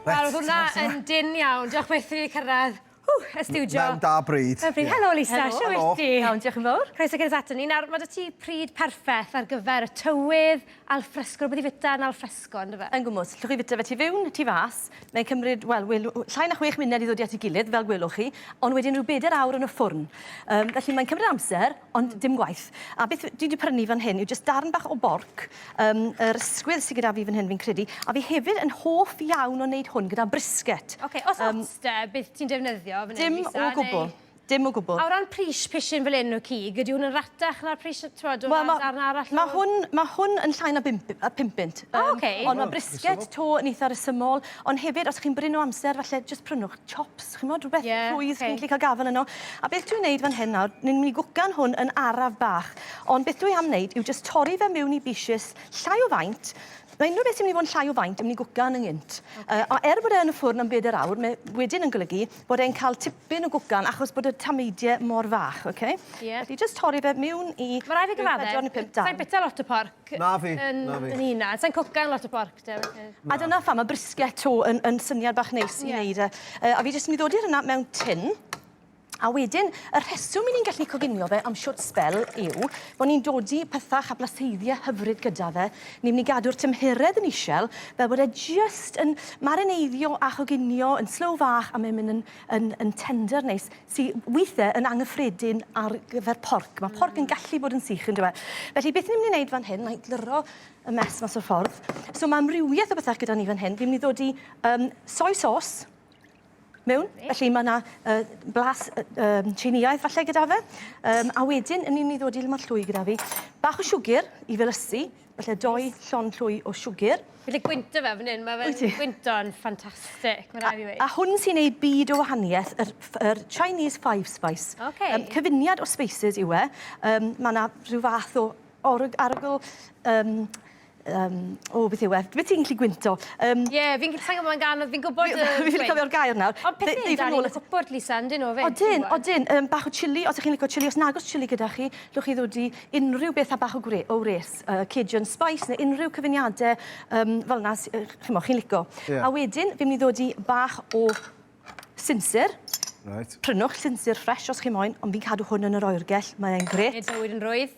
Wel, oedd hwnna yn dynn iawn. Diolch byth i fi cyrraedd y stiwdio. Mewn da bryd. Helo Lisa, shwt wyt ti? Iawn, diolch yn fawr. Croeso gynt ato ni. Nawr, mae 'da ti pryd perffaith ar gyfer y tywydd, al fresco, rhywbeth i fwyta yn al fresco, yn dy fe? Yn gwmws. Llwch chi fwyta fe tu fewn, tu fas. Mae'n cymryd, wel, wel, llai na chwech munud i ddod i at ei gilydd, fel gwelwch chi, ond wedyn rhyw bedair awr yn y ffwrn. Um, felly mae'n cymryd amser, ond hmm. dim gwaith. A beth dwi wedi prynu fan hyn yw jyst darn bach o borc, um, yr ysgwydd sydd gyda fi fan hyn fi'n credu, a fi hefyd yn hoff iawn o wneud hwn gyda brisket. Oce, okay, os um, ots de, beth ti'n defnyddio fan hyn, Lisa? Dim o gwbl. Neu... Dim o gwbl. A o ran pris pishyn fel 'yn o cig, ydy hwn yn ratach na'r pris yy t'mod o ran darn arall o... Wel ma' ma' hwn ma' hwn yn llai na bump yy pum punt. O oce. Yym ond ma' brisged 'to yn eitha resymol, ond hefyd os chi'n brin o amser falle jyst prynwch chops ch'mod rwbeth... Ie oce. ...rhwydd chi'n gallu ca'l gafel yno. A beth dwi'n neud fan hyn nawr, ni'n myn' i gwcan hwn yn araf bach, ond beth dwi am neud yw jyst torri fe miwn i bishys llai o faint, ma' unryw beth sy myn' i fod yn llai o faint yn myn' i gwcan yn gynt. Oce. Yy a er bod e yn y ffwrn am beder awr, me- wedyn yn golygu bod e'n cael tipyn o gwcan achos bod y tameidie mor fach, oce? Ie. Felly jyst torri fe miwn i... Ma' rai' fi gyfadde... ...pedwar ne' pump darn. Sai'n bita lot o porc... Na fi, na fi. ...yn yn hunan. Sai'n cwcan lot o porc te felly. A dyna pham ma' brisket to yn yn syniad bach neis i neud e. Yy a fi jyst myn' i ddodi rheina mewn tin a wedyn y rheswm 'yn ni'n gallu coginio fe am shwt sbel yw bo' ni'n dodi petha Chablasteidia hyfryd gyda fe Ni'n mynd i gadw'r tymheredd yn isel fel bod e jyst yn marineiddio a choginio yn slow fach a mae'n mynd yn, yn, yn tender neis sy weithiau yn anghyffredin ar gyfer porc. Mae porc yn gallu bod yn sych yn dyw e. Felly beth ni'n mynd i wneud fan hyn, na i glyro y mess mas o'r ffordd. So mae amrywiaeth o bethau gyda ni fan hyn. Fi'n mynd i ddod i um, soy sauce, mewn. Felly mae yna uh, blas uh, Tsieineaidd falle gyda fe. Um, a wedyn, yn ni'n mynd i ddod i lymod llwy gyda fi. Bach o siwgr i felysu, felly doi llon llwy o siwgr. Felly gwynto fe fan hyn, mae fe'n gwynto'n ffantastig, mae'n rhaid i ddweud. A, a hwn sy'n ei byd o wahaniaeth, yr, yr Chinese Five Spice. Okay. Um, cyfuniad o spices yw e. Um, mae yna rhyw fath o org, arogl um, Yym, o, beth yw e? Be' ti'n gallu gwynto? Yym... Ie, fi'n g- sai'n gwbo mae'n gân ond fi'n gwbod y gwein. Fi ffili cofio'r gair nawr. Ond pethe yn dal i fod yn gwpwrdd Lisa yndyn nhw 'fyd? Odyn, odyn. Yym bach o chilli os 'ych chi'n lico chilli. Os nag o's chilli gyda chi, newch chi ddod i unrhyw beth â bach o gwre- o wres. Yy Cajun spice ne' unrhyw cyfuniade yym fel 'na s- yy ch'mo' chi'n lico. Ie. A wedyn fi'n myn' i ddod i bach o Sinsir. Right. Prynwch sinsir ffres os chi moyn, ond fi'n cadw hwn yn yr oergell, mae e'n gret. Nid bywyd yn rwydd.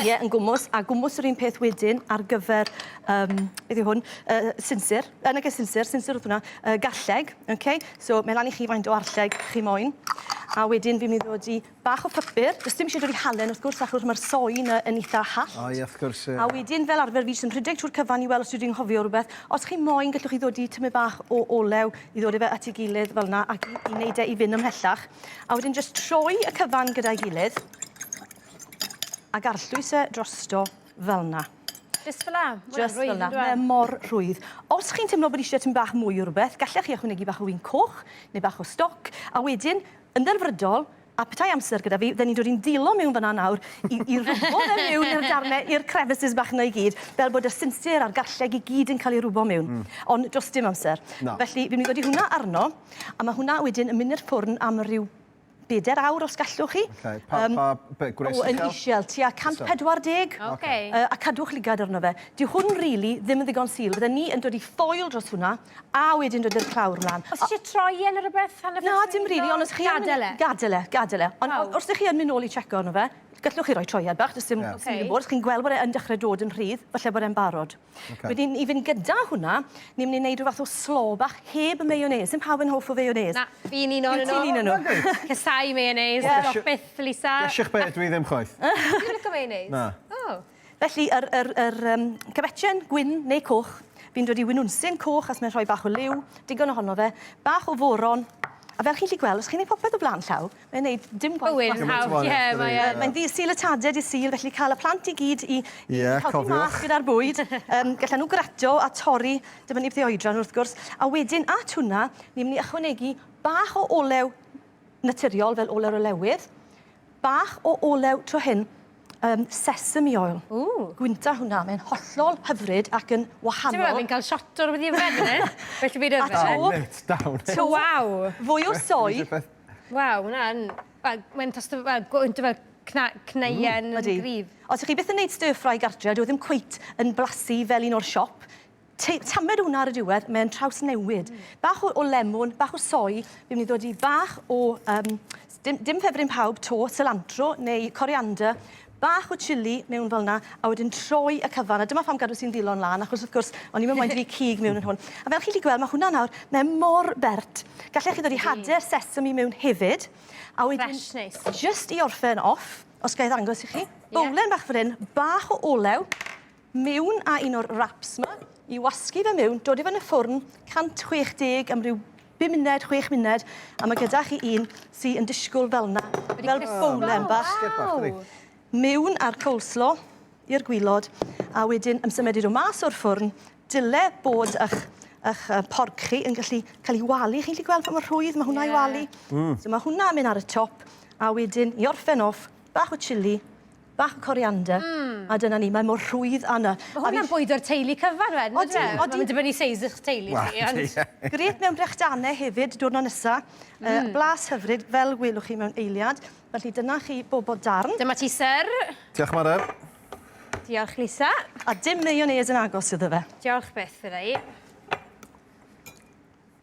Ie, yn gwmws, a gwmws yr un peth wedyn ar gyfer, um, beth yw hwn, uh, sinsir, yn y sinsir, sinsir oedd hwnna, uh, garlleg, okay? so mae lan i chi faint o arlleg chi moyn, a wedyn fi'n mynd i ddod i bach o pypyr, does dim isie dod i halen wrth gwrs achws ma'r soy 'na yn itha hallt. O ie wrth gwrs ie. A wedyn fel arfer fi jyst yn rhedeg trwy'r cyfan i wel' os dwi 'di nghofio rwbeth. Os chi moyn gellwch chi ddodi tymed bach o olew i ddod â fe at ei gilydd fel 'na ac i i neud e i fyn' ymhellach. A wedyn jyst troi y cyfan gyda'i gilydd ag arllwys e drosto fel 'na. Jyst fel 'a? Ma' wnna'n rwydd on'd yw e? Jyst fel 'na. Mae mor rhwydd. Os chi'n timlo bod isie tymed bach mwy o rwbeth gallech chi ychwanegu bach o win coch ne' bach o stoc a wedyn Yn ddelfrydol, a petai amser gyda fi, fydden ni'n dod i'n ddillo miwn fan'na nawr i i rwbo fe miwn i'r darne, i'r crevices bach 'na i gyd, fel bod y sinsir a'r garlleg i gyd yn cael ei rwbo miwn. Mm. Ond do's dim amser. Na. Felly, fi'n mynd i godi hwnna arno, a ma' hwnna wedyn yn mynd i'r ffwrn am ryw beder awr os gallwch chi. Ocê, pa- Yym. pa be- gwres uchel? O, yn ishel, tua 140. Ocê. Yy a cadwch lygad arno fe. Dyw hwn rili ddim yn ddigon sul. Fydden ni yn dod i ffoil dros hwnna. A wedyn roedd yr clawr mlan. Os isie troi e ne' rwbeth hanner ffordd trwyddo? Na dim rili on' os chi yn... Gadel e? Gadel e gadel e. Ond o- os dych chi yn myn' nôl i checo arno fe gallwch chi roi troiad bach do's dim... Ie. ...os chi'n gwbod os chi'n gweld bod e yn dechre dod yn rhydd falle bod e'n barod. Oce. Wedyn i fynd gyda hwnna ni myn' i neud ryw fath o slaw bach heb y mayonnaise. Sim pawb yn hoff o fayonnaise. Na, fi'n un onyn nw. Fi'n un o nw. Reit. Casau mayonnaise. Ie. Dioch byth Lisa. Dioch byth dwi ddim chwaith. Ti'n lico mayonnaise? Na. O. Felly, yr, yr, yr um, cyfetchen gwyn neu coch, fi'n dod i winwnsyn coch as mae'n rhoi bach o liw, digon ohono fe, bach o foron, A fel chi'n lli gweld, os chi'n ei popeth o blaen llaw, mae'n gwneud dim gwaith. Bywyd yn hawdd, ie, mae'n... Mae'n ddi syl y taded i syl, felly cael y plant i gyd i, i yeah, helpu mas gyda'r bwyd. um, Gallai nhw grato a torri, dyma ni beth oedran wrth gwrs. A wedyn, at hwnna, ni'n mynd i ychwanegu bach o olew naturiol fel olew olewydd, Bach o olew tro hyn, yym sesame oil. Ww! Gwnta hwnna, mae'n hollol hyfryd ac yn wahanol. Ti'n gwbod, fi'n cael shot o rwbeth i yfed fan hyn. Well 'da fi yfed. A to... Dal it, dal it. To, waw! Fwy o soy. Waw, ma' wnna yn, wel, mae'n tost o, wel, gwynt o fel cna- cneuen yn gryf. Ydi. Os 'ych chi byth yn neud stir-fry gartre, dyw e ddim cweit yn blasu fel un o'r siop. Te, tamed hwnna ar y diwedd, mae'n trawsnewid. Bach o, o lemon, bach o soi, fi'n mynd i ddod i bach o, um, dim, dim ffefryn pawb to, cilantro neu coriander, bach o chili mewn fel yna, a wedyn troi y cyfan. A dyma pham gadw sy'n ddilon lan, achos wrth gwrs, o'n i'n mynd i fi cig mewn yn hwn. A fel chi wedi gweld, mae hwnna nawr, mae mor bert. Gallech chi ddod i hader sesame mewn hefyd. A wedyn, Fresh, nice. just i orffen off, os gael ddangos i chi, bowlen bach fan hyn, bach o olew, mewn a un o'r wraps ma i wasgu fe mewn, dod i fe yn y ffwrn 160 am ryw 5 munud, 6 munud, a mae gyda chi un sy'n yn disgwyl fel yna, fel bowlen bach. Mewn a'r coleslaw i'r gwylod, a wedyn yn symud i'r mas o'r ffwrn, dyle bod eich eich porc chi yn gallu cael ei walu. Chi'n gallu gweld pa mor rhwydd mae hwnna i walu? Mm. So mae hwnna'n mynd ar y top, a wedyn i orffen off, bach o chilli, Bach o coriander. Mm. A dyna ni, mae mor rhwydd a 'na. Mae hwnna'n bwydo'r teulu cyfan wedyn yndyw e? Odi, odi. Mae'n dibynnu seis eich teulu chi ond... Wel, ie. Grêt mewn brechdanau hefyd, diwrnod nesa. Mm. Yy, blas hyfryd, fel welwch chi mewn eiliad. Felly dyna chi bobl darn. Dyma ti syr. Diolch Mari. Diolch Lisa. A dim mayonnaise yn agos iddo fe. Diolch byth iddo i.